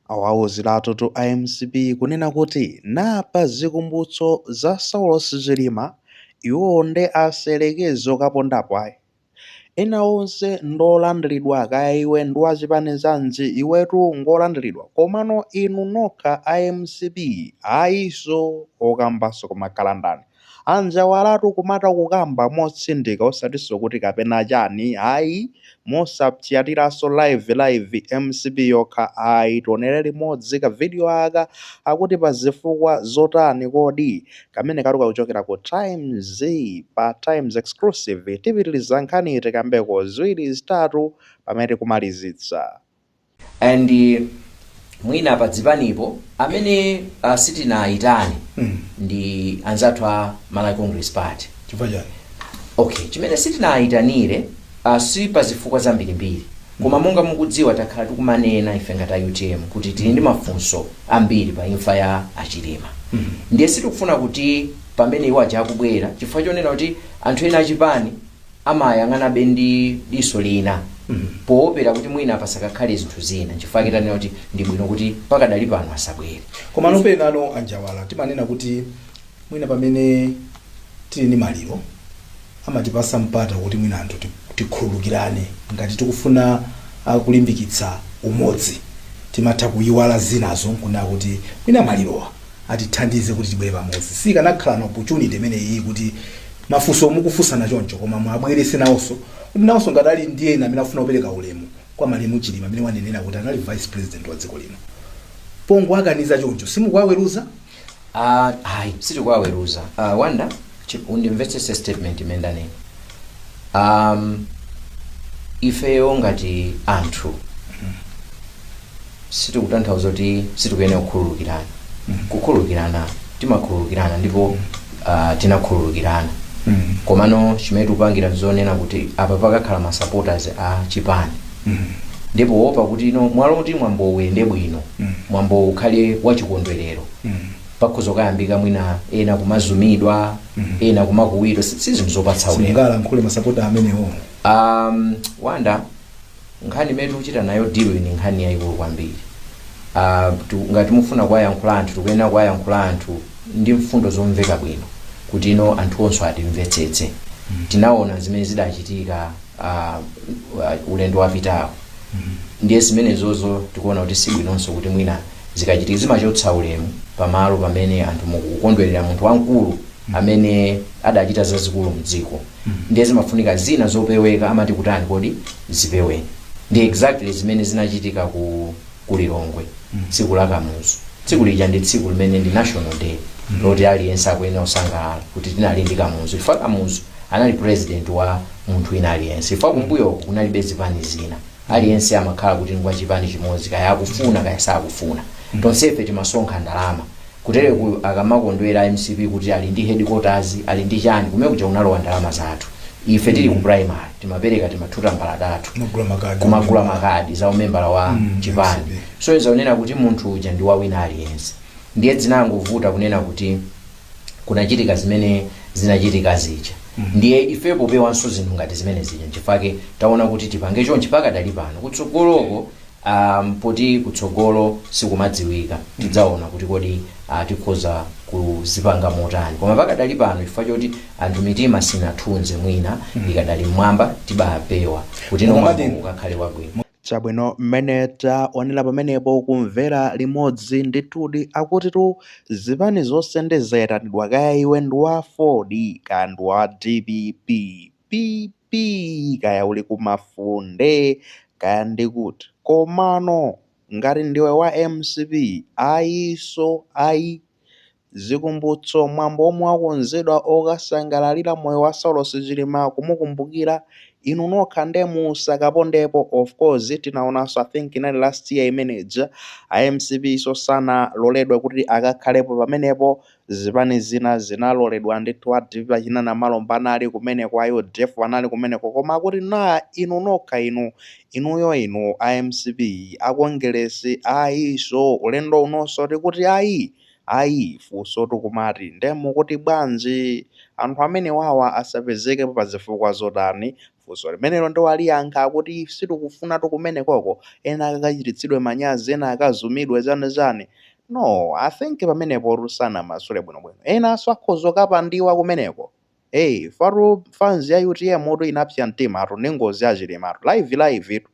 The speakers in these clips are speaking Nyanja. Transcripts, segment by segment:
Awauziratu a mcp kunena kuti naa pa chikumbutso za saulos chilima iwowo nde asayerekeze kukapondapo ayi. Ena onse ndi olandilidwa kaya iwe ndi wa chipani chanji iwetu ngolandilidwa komano inu nokha a mcp ayi so okambaso kumakhala ndani. A Njawalatu kumatha kukamba motsindika osatinso kuti kapena chani ayi, mosapsyatiranso live live mcp yokha ayi tionere limodzi ka video aka akuti pa zifukwa zotani kodi? Kamenekatu kakuchokera ku Times pa Times Exclusive tipitiliza nkhaniyi tikambeko ziwiri zitatu pamene tikumalizitsa. and eh, mwina pa dzipanipo amene uh, sitinayitane Mm. ndi anzathu a malawi congress party chifukwa chani okay chimene sitinayitanire uh, si pa zifukwa zambirimbiri koma monga mukudziwa takhala tikumanena ife ngati utm kuti tili ndi mafunso ambiri pa imfa ya achilima ndiye sitikufuna kuti pamene iwo aja akubwera chifukwa chonena kuti anthu ena achipani amayang'anabe ndi diso lina poopera kuti mwina pasakakhale zinthu zina chifukwa chake tanena kuti ndi bwino kuti pakadali pano asabwere koma nopenano a Njawala timanena kuti mwina pamene tili ndi maliro amatipasa mpata kuti mwina anthu ti- tikhululukirane ngati tikufuna kulimbikitsa umodzi timatha kuyiwala zinazo nkunena kuti mwina malirowa atithandize kuti tibwere pamodzi sikanakhala opportunity imeneyi kuti mafunso mukufunsana choncho koma muwabwerese nawonso kuti nawonso ngati ali ndi ena amene afuna kupereka ulemu kwa malemu chilima amene wanenera kuti anali vice president wa dziko lino pongowakaniza choncho simukuwaweruza Ah, hayi sitikuwaweruza uh, wanda chi- undimvetsese statement imene ndanena um, ifeyo ngati anthu sizikutanthauza kuti sitikuyenera kukhululukirana kukhululukirana timakhululukirana ndipo uh, tinakhululukirana Mm. komano chimene tikupangira nchonena kuti apa pakakhala ma supporters a chipani Mm. nde powopa kuti no mwalo kuti mwambo uyende bwino Mm. mwambo ukhale wachikondwerero Mm. pakhoza kukayambika mwina ena kumazomedwa ena kumakuwidwa si si zinthu zopatsa ulemu simungalankhule masapota amenewo um, wanda Nkhani imene tikuchita nayo deal ndi nkhani yayikulu kwambiri. Ah, tu- ngati mufuna kuwayankhula anthu tikuyenera kuwayankhula anthu ndi mfundo zomveka bwino kuti no anthuwonso atimvetsetse tinaona zimene zidachitika ah, uh, ulendo wapitawo ndiye zimenezozo tikuona kuti si bwinonso kuti mwina zikachitika zimachotsa ulemu pamalo pamene anthu mukukondwerera munthu wamkulu amene adachita zazikulu mdziko ndiye zimafunika zina zopeweka amati kutani kodi zipeweni ndi exactly zimene zinachitika ku lilongwe tsiku la kamuzu tsiku lija ndi tsiku limene ndi national day loti aliyense akuyenera kusangalala kuti tinali ndi kamuzu chifukwa kamuzu anali president wa munthu wina aliyense chifukwa kumbuyo kunalibe zipani zina aliyense amakhala kuti ngwa chipani chimodzi kaya akufuna kaya sakufuna tonsefe timasonkha ndalama kutereku akamakondwera mcp kuti ali ndi headquarters ali ndi chani kumene kuja unalowa ndalama zathu ife tili ku primary timapereka timathuta mbalatatu kumagula makadi za umembala wa chipani so zakunena kuti munthu uja ndi wawina aliyense ndiye zinangovuta kunena kuti kunachitika zimene zinachitika zija ndiye ifepo popewanso zinthu ngati zimene zija nchifake taona kuti tipange chonchi pakadali pano kutsogoloko um, poti kutsogolo sikumadziwika tidzaona kuti kodi uh, tikhoza kuzipanga motani koma pakadali pano chifukwa choti anthu mitima sinathunze mwina ikadali mmwamba tibapewa kuti mwambo ukakhale wabwino Chabwino, mmene tawonera pamenepo, kumvera limodzi, ndithudi, akutitu, zipani zonse nde zayitanidwa, kaya iwe ndi wa aford, kaya ndi wa dpp, PP, kaya uli ku Mafunde, kaya ndi kuti. Komano, ngati ndiwe wa mcp, ayiso, ayi. Zikumbutso, mwambo womwe wakonzedwa okasangalalira moyo wa Saulos Chilima kumukumbukira, inu nokha nde musakapondepo, of course tinaonanso I think inali last year imene ija, a mcp-so sanaloledwe kuti akakhalepo pamenepo, zipani zina zinaloledwa ndithu, a dpp achina Namalomba anali kumeneko, a udf anali kumeneko koma akuti naa inu nokha inu, inuyo inu a mcp, a Kongeresi ayiso, ulendo unonso tikuti ayii! Ayi funsotu kumati nde mukuti bwanji anthu amenewawa asapezeke pazifukwa zotani? Funso limenelo nde waliyankha akuti sitikufunatu kumenekoko ena akakachititsidwe manyazi ena akazumidwe chani chani. No I think pamenepotu sanamasule bwinobwino enanso akhoza kukapandiwa kumeneko. Eh ifatu fans ya utm tu inapsa mtimatu ndi ngozi ya chilimatu live live tu.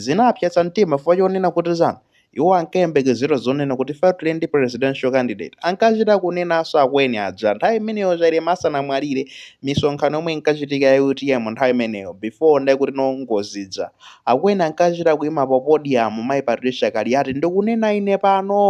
Zinapsetsa mtima chifukwa chonena kuti za Iwo ankayembekezera zonena kuti ifeyo tili ndi presidential candidate. Ankachita kunenanso akweni aja nthawi imeneyo Chilima asanamwalire, misonkhano yomwe inkachitika ya utm nthawi imeneyo before ndekuti no ngozi ija. Akweni ankachita kuima pa podium Mayi Patricia Kaliati ndikunena ine pano!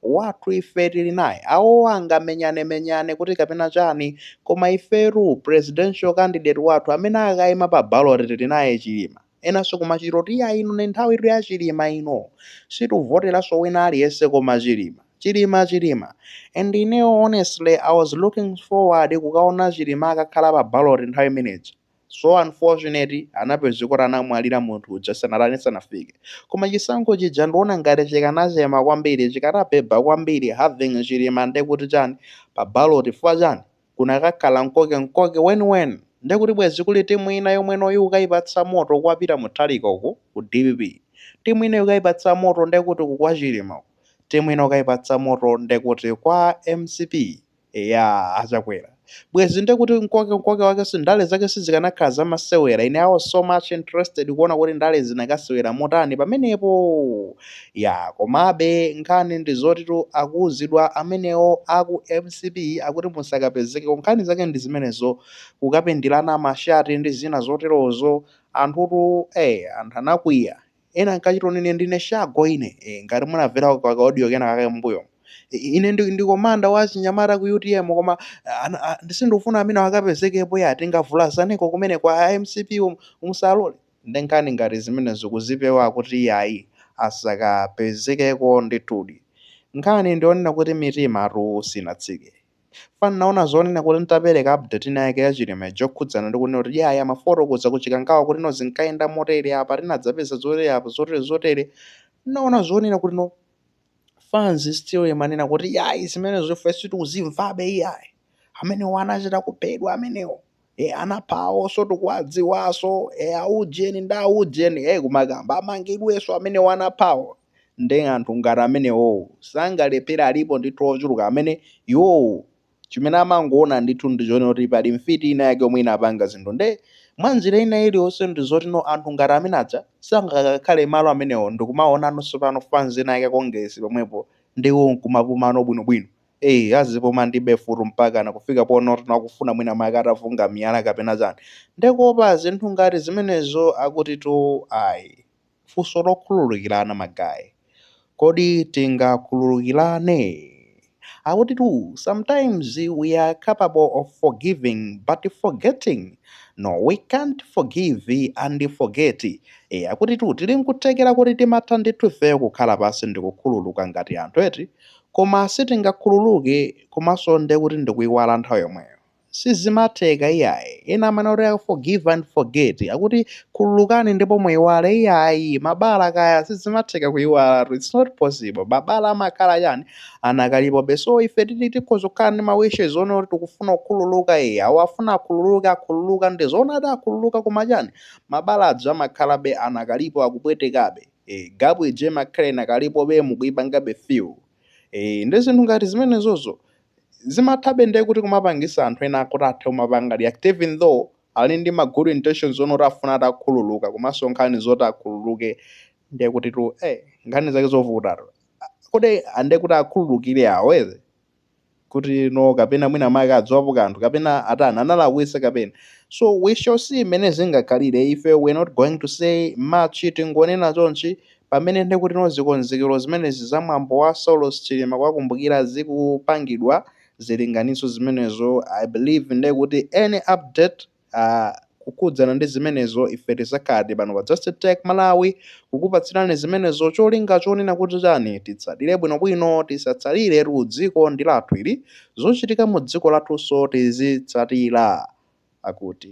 wathu ife tili naye, awowo angamenyanemenyane kuti kapena chani koma ifetu presidential candidate wathu amene akakaima pa ballot tili naye Chilima. Enanso kumachita kuti iyayi ino ndi nthawitu ya Chilima ino, situvoteranso wina aliyense koma Chilima, Chilima, Chilima and ineyo honestly I was looking forward kukaona Chilima akakhala pa ballot nthawi imene ija. so unfortunate anapezeka kuti anamwalira munthu uja sanatani sanafike koma chisankho chija ndiona ngati chikanachema kwambiri chikanabeba kwambiri having chilima nde kuti chani pa ballot chifukwa chani kunakakhala mkoke mkoke weniweni nde kuti bwezi kuli timu ina yomwenoyi ukayipatsa moto kwapita Mutharika uku ku dpp timu ina ukayipatsa moto nde kuti uku kwa chilima uku timu ina ukayipatsa moto nde kuti kwa mcp Eya achakwera bwezi nde kuti mkoke mkoke wake si ndale zake sizikanakhala zamasewera ine I was so much interested kuona kuti ndale zinakasewera motani pamenepo ya komabe nkhani ndi zotitu akuuzidwa amenewo aku mcp akuti musakapezekeko nkhani zake ndi zimenezo kukapindilana mashati ndi zina zoterozo anthutu eh anthu anakwiya ena ankachita kuti ine ndine shago ine e, ngati munamvera ka audio kena kake mbuyomo I- ine ndi, ndi komanda wa chinyamata ku utm koma ana- a- ndisindikufuna amene akapezekepo ya tingavulazaneko kumene kwa mcp um- musalole nde nkhani ngati zimenezo kuzipewa kuti iyayi asakapezekeko ndithudi nkhani ndionena kuti mitimatu sinatsike Chifukwa ndinaona zonena kuti nditapereka update ina yake ya Chilima ija yokhudzana ndi kunena kuti yaya amafotokoza ku Chikangawa kuti no zinkayenda motere apa tinadzapeza zotere apa zotere zotere ndinaona zonena kuti no fans still imanena kuti yayi zimenezo ife sitikuzimvabe iyayi amenewo anachita kuphedwa amenewo e anaphawonso tikuwadziwaso e aujeni ndi aujeni e kumakamba amangidweso amenewo anaphawo nde anthu ngati amenewowo sangalephere alipo ndithu ochuluka amene iwowo chimene amangoona ndithu ndi chonena kuti pali mfiti ina yake yomwe inapanga zinthu nde mwa njira ina iliyonse ndi zoti no anthu ngati amene aja sangakakhale malo amenewo ndikumaonanso pano fanzi ina yake Kongeresi pomwepo ndi iwo nkumapumano bwinobwino Eee azipuma ndipo full mpakana kufika ponena kuti akufuna mwina mwake atavungana miyala kapena chani ndekuopa zinthu ngati zimenezo akutitu ayi funso lokhululukirana ma guy kodi tingakhululukirane akutitu sometimes we are capable of forgiving but forgetting no we can't forgive and forget e akutitu tili nkuthekera kuti timatha ndithu ifeyo kukhala pansi ndikukhululuka ngati anthu eti Koma sitingakhululuke komanso nde kuti ndikuiwala nthawi yomweyo. Sizimatheka iyayi. Ena amanena kuti a forgive and forget, akuti khululukani ndipo muiwale iyayi, mabala aja sizimatheka kuiwalatu it's not possible. Mabala amakhala chani, anakalipobe. So ife titi tikhoza kukhala ndi ma wishes onena kuti tikufuna kukhululuka ee, awo afuna akhululuke akhululuka nde zoona adzakhululuka koma chani, mabala aja amakhalabe anakalipo akupwetekabe. ee gap ija imakhala inakalipobe mukuipangabe feel ee nde zinthu ngati zimenezozo zimathabe ndiye kuti kumapangisa anthu ena kuti athe kumapanga react even though ali ndi ma good intentions onena kuti afuna atakhululuka komanso nkhani zoti akhululuke ndiye kutitu ee nkhani zake zovutatu kodi ande kuti akhululukire awo eze kuti no kapena mwina mwake akudziwapo kanthu kapena atani analakwisa kapena so we shall see mmene zingakhalire ife we're not going to say much tingonena chonchi pamene ndekuti no zikonzekero zimenezi za mwambo wa Saulos Chilima kuwakumbukira zikupangidwa zilinganiso zimenezo i believe ndekuti any update kukhudzana ndi zimenezo ife tizakhaladi pano pa Just Tech Malawi kukupatsirani zimenezo cholinga chonena kuti chani titsatire bwinobwino tisatsaliretu dziko ndi lathu ili zochitika mu dziko lathunso tizitsatira akuti.